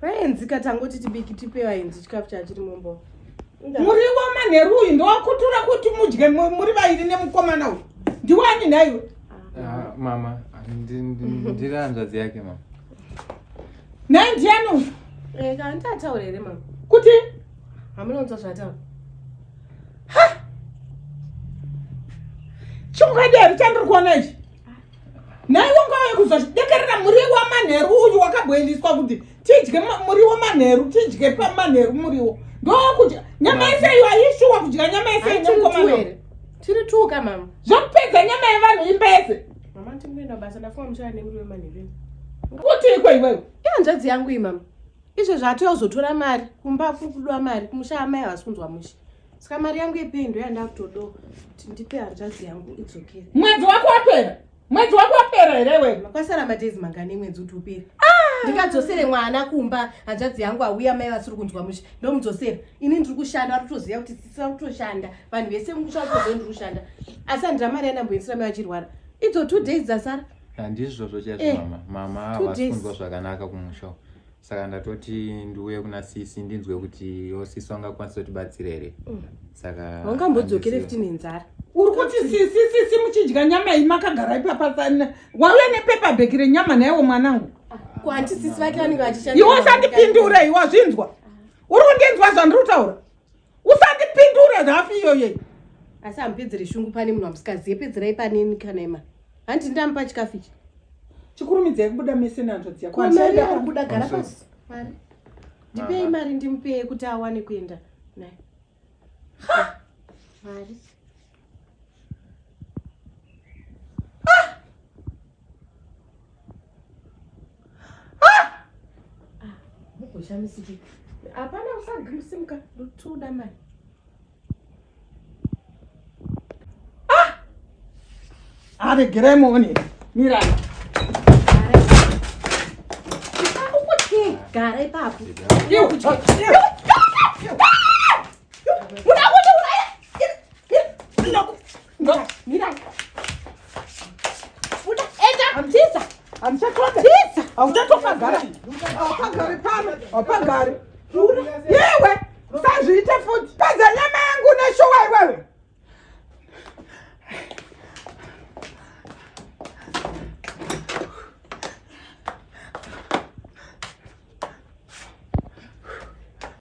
Vaenzika tangoti tibiki tipe vaenzi chikafu chachiri mumbo. Muriwo manheru uyu ndowakutura kuti mudye muri vairi nemukomana uyu. Ndiwani nhaiwe? Ah, mama, ndiri hanzvadzi yake mama. Nhai ndiani uyu? Eh, kana ndataura here mama? Kuti? Hamunonzwa zvataura. Ha! Chungadero chandiri kuona ichi. naiwo ngauye kuzodekerera muriwo wamanheru uyu wakabhoiliswa kuti tidye muriwo manheru tidye pamanheru muriwo ndokudya nyama yese iyo ayishuwa kudya nyama yese inemukomano tiri two ka mama zvokupedza nyama yevanhu imba yese mama tingoenda basa ndafunga muchaya nemuriwo manheru kuti iko iwewe ihanzvadzi yangu imama izvo zvaatoya kuzotora mari kumba kuri kudiwa mari kumusha amai havasi kunzwa mushe Ska mari yangu yepei ndo yandakutodo kuti ndipe hanzvadzi yangu it's okay. Mwedzi wako wapera. Mwedzi wako wapera here wewe? Makasara madays mangani mwedzi uti upera. Ah! Ndikadzosere mwana kumba hanzvadzi yangu auya mai vasiri kunzwa musha. Ndomudzosera. Ini ndiri kushanda ari kutoziva kuti sisi vari kutoshanda. Vanhu vese mumusha vari kutoziva ndiri kushanda. Asi handira mari yandamboendesera mai vachirwara. Idzo two days dzasara. Handizvo zvochazvo eh, mama. Mama havasi kunzwa zvakanaka kumusha. saka ndatoti ndiuye kuna sisi ndinzwe kuti yo sisi vangakwanisa kutibatsira here mm. saka vangambodzokere futi nenzara uri kuti sisi sisi muchidya nyama iyi makagara ipapa sana wauya nepepa bheki renyama naiwo mwanangu iwe usandipindure iwe wazvinzwa uri kundinzwa zvandiri kutaura usandipindure nhafu iyoyo asi hamupedzere shungu pane munhu wamusikaziye pedzerai paneni kana ima hanti ndamupa chikafu ichi chikurumidzai kubuda mese nanzvo dziyakubuda gara pasi mari ndipei mari ndimupeye kuti awane kuenda naye mari zvamisiki hapana usagimsimuka ndotoda mai ah! aregerai muone mirai gara ipapo muda kundiuraya Yewe, sazviite futi. Pedza nyama yangu neshuwa iwewe.